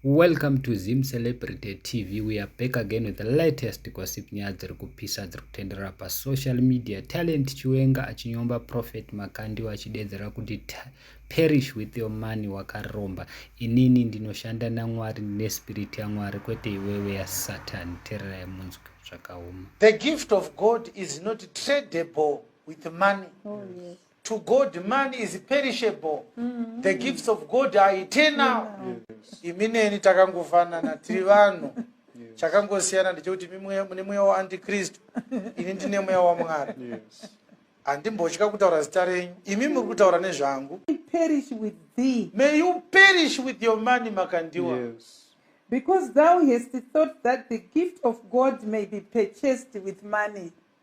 Welcome to Zim Celebrity TV. We are back again with the latest gossip nyaya dziri kupisa dziri kutenderera pasocial media. Talent Chiwenga achinyomba Prophet Makandiwa achidedzera kuti perish with your money wakaromba. Inini ndinoshanda naMwari nespirit yaMwari kwete iwewe yaSatan. Tererai munzwi zvakaoma. The gift of God is not tradable with money. Oh, yes. to god man is perishable mm. the gifts of god are eternal mm. imi neni takangofanana tiri vanhu chakangosiyana ndechekuti mune mweya waantikristu ini ndine mweya wamwari handimbotya kutaura zita renyu imi muri kutaura nezvangu may you perish with your money makandiwa yes. because thou hast thought that the gift of God may be purchased with money.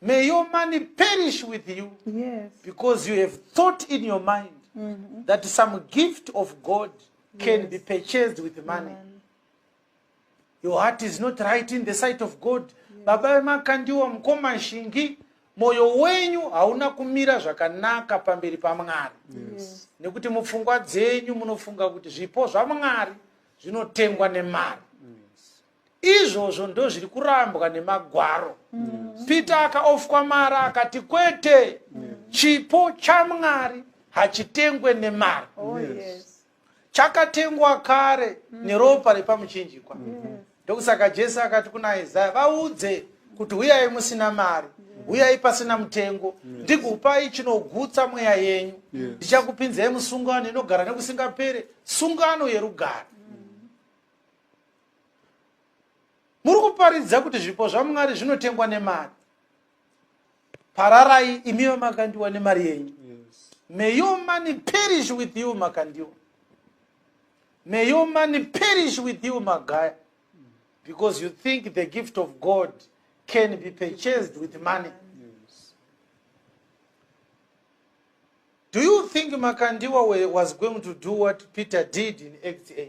may your money perish with you yes. because you have thought in your mind mm -hmm. that some gift of god can yes. be purchased with money Amen. your heart is not right in the sight of god yes. baba vemakandiwa mukoma shingi mwoyo wenyu hauna kumira zvakanaka pamberi pamwari yes. nekuti mupfungwa dzenyu munofunga kuti zvipo zvamwari zvinotengwa nemari izvozvo ndozviri kurambwa nemagwaro mm. peter akaofwa mari akati kwete mm. chipo chamwari hachitengwe nemari oh, yes. chakatengwa kare mm. neropa repamuchinjikwa mm. ndokusaka jesu akati kuna isaya vaudze kuti huyai musina mari huyai pasina mutengo ndikupai chinogutsa mweya yenyu ndichakupinzai musungano inogara nekusingapere sungano yerugare muri kuparidza kuti zvipo zvamwari zvinotengwa nemari pararai imi vamakandiwa nemari yenyu may your money perish with you makandiwa may your money perish with you magaya because you think the gift of god can be purchased with money do you think makandiwa was going to do what peter did in act 8